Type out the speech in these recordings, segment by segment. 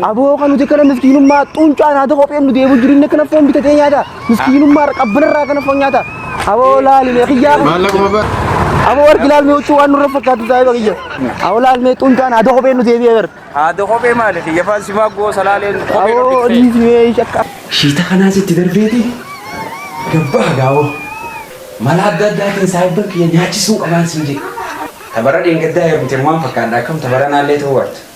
Aboo kan nuti kana miskiinummaa xuuncaan haata kopheen nu deebi'u jireenya kana foon bitatee nyaata. Miskiinummaa qabbanarraa kana foon nyaata. Aboo laalimee kiyyaa. Maallaquma bara. Aboo wargi laalmee huccuu waan nurra fakkaatu taa'ee bakiyya. Aboo laalmee xuuncaan haata kopheen nu deebi'ee bara. Haadha kophee maali kiyya faan simaa goosa laaleen kophee Aboo dhufte. dhiismee shakka. Shiita kanaas itti darbeeti gabbaa gaawoo mala adda addaatiin saahibban kiyya nyaachisuu qabaan siin jedhe. Tabara dheengaddaa heerumteen waan fakkaadha akkam tabaranaallee ta'uu arta.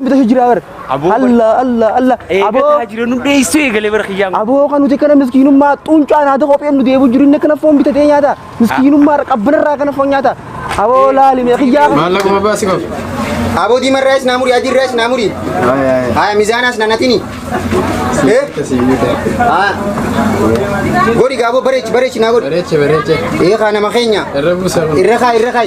Bita shi jira bar. Aboo bar- Allah Allah Allah. Aboo Eegataa jira nu dheessuu eegalee bara kiyyaa. aboo kan nuti kana miskiinummaa xuuncaa naata kopheen nu deebu jiru inni kana foon bitatee nyaata. Miskiinummaa qabbanarraa kana foon nyaata. Aboo laali mee kiyyaa kana. Maallaqa babbaa si qabu. Aboo diimarraa is naamurii adiirraa is naamurii. Haya mizaanaas nanatini. Eh? Haya. Godhi gaaboo bareechi bareechi naa godhi. Bareeche bareeche. Ee kaa nama keenya. Irra buusa. Irra kaa irra kaa.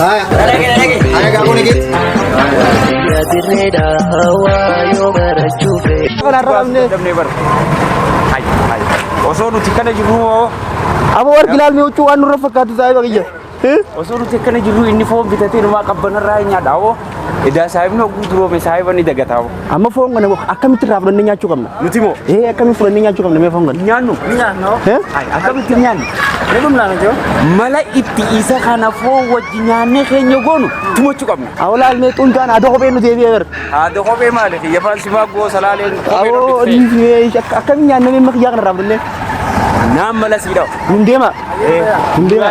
Haya. Haya gabu ni git. Osoo nuti kana jirru moo Abo war bilal mi uchu anu rafakatu sai bagiyya. osoo nuti akkana jirru inni foon bitatee numaa qabbanarraa hin nyaadha hoo Edaa saahibni hogguu duroome saahiba ni dagataa. Amma foon kana akkamitti irraa fudhannee nyaachuu qabna? Nuti moo? Ee akkamitti fudhannee nyaachuu qabna mee foon kana? Nyaannu. Nyaannu. Akkamitti nyaannu? Ni dhumna nuti hoo? Mala itti isa kana foon wajji nyaannee keenya goonu tumachuu qabna. Awlaal mee xuntaan haadha kophee nu deebi'ee bar. Haadha kophee maali? Kiyyafaan simaa goosa laaleen kophee nu Awoo dhiisee. akkamitti nyaannee mee makiyyaa kana irraa fudhannee? Naan mala sii dhawa. Hin deema. Hin deema.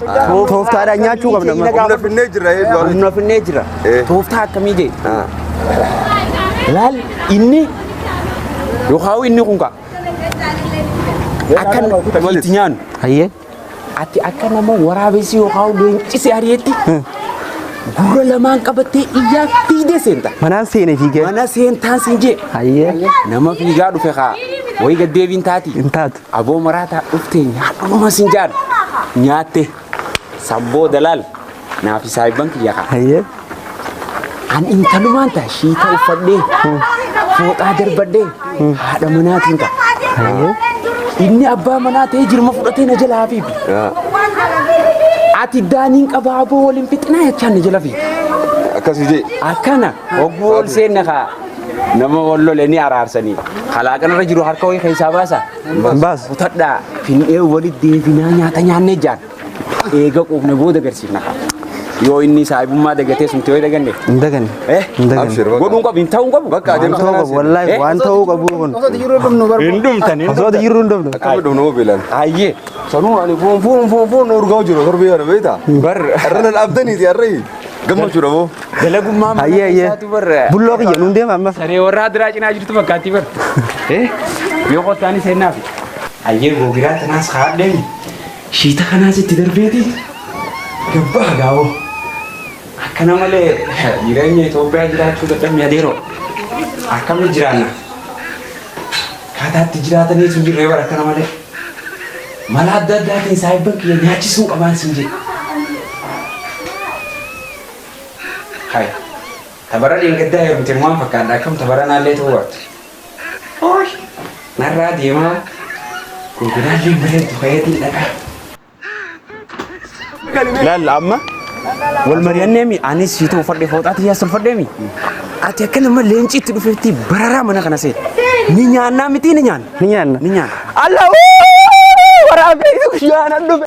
Tooftaadhaan nyaachuu qabna. Humna finnee jira ee du'aa Humna finnee jira. Eh. Tooftaa akkamii jee? Ah. Laal inni yookaan inni kun kaa. Akka Malis. itti nyaannu. Hayyee. Ati akka nama waraabessi yookaan leencisi ari'etti gurra lamaan qabattee iyyaa fiidee seenta. Manaan seenee fiigee. Mana seentaan siin jee. Hayyee. Nama fiigaa dhufe kaa. Wayi gaddeebiin taati. Hin taatu. Aboo maraataa dhuftee nyaadhu dhuma sin jaadhu. Nyaatte sabboo dalaal naaf saayibban kiyya kaa. Hayyee. An intalumaan ta'a shiita uffadhee fooxaa darbadhee haadha manaatiin ta'a. Hayyee. Inni abbaa manaa ta'ee jirma fudhatee na jalaa hafiifi. Ati daaniin qabaa aboo waliin fixinaa jechaan na jala fiifi. Akkas hojii. Akkana hogguu ol seenna kaa. nama wal lole ni araarsanii kalaaqan irra jiru harka wayii keessaa baasa Baas. kutadhaa fin'ee walitti deebinaa nyaata nyaannee jaan eega quufne booda garsiifna yoo inni saahibummaa dagatee sumte yoo daganne Hin daganne. eh Hin daganne. Abshir, bakka. godhuun qabu hin ta'uun qabu bakka Waan adeemsa ta'uu kanaa qabu seena. wallaahi Eh? waan ta'uu qabu kun. Osoo ati jiruu dhumnu barbaadu. hin dhumtan hin Osoo ati jiruu hin dhumne. Akkami dhumnu hoo beelan. ayyee Sanuu ani fuun fuun fuun fuun urgaa jiru torbii kana beektaa. bar Arra nan abdaniiti arra gammachuudha moo. Dalagummaan mana Hayyee hayyee. keessaatu barra. Bulloo kiyya nuun deema amma. Saree warraa diraa cinaa jirtu fakkaatti barra. Eh? Yoo qottaani seennaaf. Hayyee googiraa tanaas haadheen shiita kanaas itti darbeeti gabbaa gaawoo. Akkana malee jireenya Itoophiyaa jiraachuu dadhabne adeeroo. Akkami jiraanna? Kaataatti jiraatanii sun jirree bara akkana malee. Mala adda addaatiin saayibban kiyya nyaachisuu qabaan sin jedhe. Hay. Tabara dheengaddaa heerumte waan fakkaadha akkam tabara naallee ta'uu baattu. Ooy. Narraa deemaa. Konkolaalleen bareeddu fayyadiin dhaqaa. Laal amma wal mari'anneemi anis siitoo uffadhe fooxaa tiyyaas tolfadheemi. Ati akka nama leenci itti dhufeetti bararaa mana kana seete. Ni nyaannaa miti ni nyaanna. Ni nyaanna. Ni nyaanna. Allah waraabee guyyaa nan dhufe.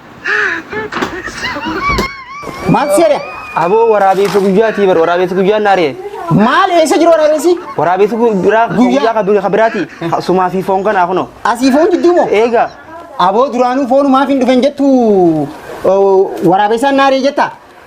Maal seera? Aboo waraabessa guyyaatii bar waraabessa guyyaan naaree. Maal eessa jiru waraabessi? Waraabessa guyyaa Guyyaa. guyyaa kan biraati. Sumaa fi foon kanaa kunoo. Asii foon jidduu moo? Eegaa. Aboo duraanuu foonumaaf hin dhufen jettu waraabessaan naaree jetta.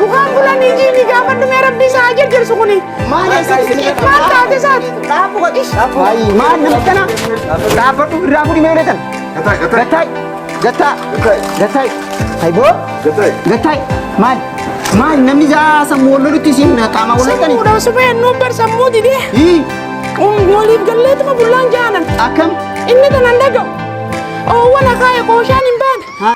Mukaan bulanii jiini gaafa dhumee rabbi isaa haa jajjarsu kuni. Maal taate isaati? Maal nama kana? Dhaabbadhu irraa fudhi mee uletan. Gattaa. Gattaa. Gattaa. Hayboo. Gattaa. Maal? Maal namni jaa sammuu wal lolutti isin qaama wal loltani? Fuudhan supee nuun bar sammuu didee. Hii. Waliif galleetuma bullaan jaanan. Akkam? Inni tanan dhaga'u. Oowwan akaaya qooshaan hin baane.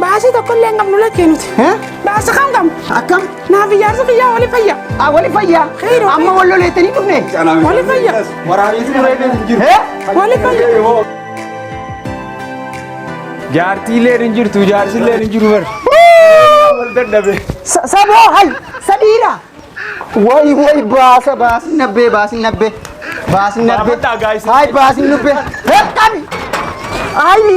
Baasii tokkollee hin qabnu lakkee nuti. Baasa kam qabnu. Akkam? Naaf ijaarsa biyyaa wali fayya. Ah, wali fayya. Amma wal loleettanii dhufne. Wali fayya. Waraaniitu dureedhaan hin jiru. Wali fayya. Jaartiilleen hin jirtu, jaarsilleen hin jiru bara. Wal dadhabe. Saboo hay sadiira. Way way baasa baasin nabbee baasin nabbee. Baasin nabbee. Baafadhaa, guys. Hay baasin nubbee. Qabi. Ay